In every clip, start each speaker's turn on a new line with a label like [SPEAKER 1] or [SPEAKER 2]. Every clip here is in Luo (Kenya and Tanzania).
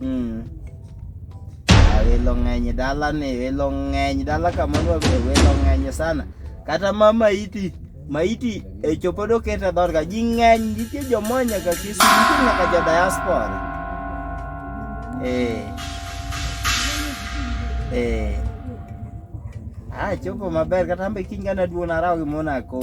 [SPEAKER 1] Mm. Welo ng'eny e dala ni, welo ng'eny dala kama nwa be welo ng'eny sana. Kata ma maiti, maiti e chopo do kete dhot ka ji ng'eny nitie joma nyaka Kisumu, nitie nyaka jo diaspora. Eh. Eh. Ah, chopo maber kata ambe kiny kana duon araw gi mona kom.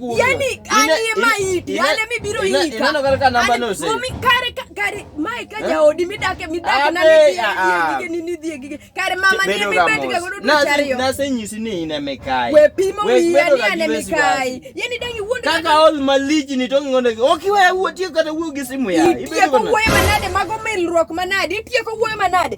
[SPEAKER 1] kuno. Yani ani ma idi,
[SPEAKER 2] ani mi biro ika. Ina no kaka namba no
[SPEAKER 1] se. Mami kare
[SPEAKER 2] kare mai ka ja odi mi dake mi dake na ni di gige ni ni di gige. Kare mama ni mi beti ga godo do chari yo. Na se nyisi ni ina
[SPEAKER 1] me kai. We pimo mi ya ni ane
[SPEAKER 2] me kai. Yani dangi wundo. Kaka all maliji
[SPEAKER 1] ni tongi ngondo. Oki we wuo tie kata wuo gi simu ya. Ibe ko wuo manade
[SPEAKER 2] mago milruok manade. Tie ko wuo manade.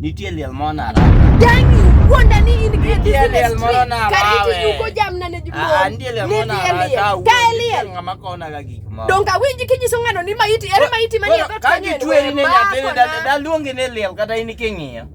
[SPEAKER 2] nitie
[SPEAKER 1] liel
[SPEAKER 2] moro
[SPEAKER 1] naranitie liel moro narawengaama
[SPEAKER 2] konaga gik morodongawinji
[SPEAKER 1] kinyiso ng'ano
[SPEAKER 2] ni maiti ere maiti manie kagitweri ne
[SPEAKER 1] nyathini daluongi ni liel kata in king'iyo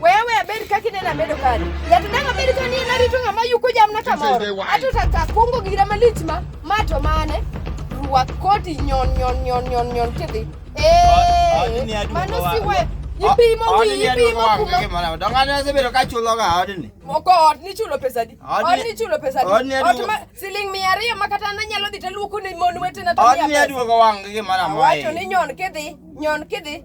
[SPEAKER 2] Wewe abed kaka ineno amedo kani. Jatendang abed ka ni narito ng'ama yuko jamna kamoro. Ato tata kungo gira malich ma ma to mane ruwa koti nyon nyon nyon nyon nyon kidhi. Eh. Mano si we ipimo wi ipimo kuma.
[SPEAKER 1] Dongane asebedo ka chulo ga odni. Moko od ni chulo
[SPEAKER 2] pesa di. Od ni chulo pesa di. Od ni ma siling mia ariyo ma kata na nyalo dhi to luoko ni mon wetena to. Od ni aduogo wang' gi
[SPEAKER 1] mara mai. Wacho ni nyon kidhi
[SPEAKER 2] nyon kidhi.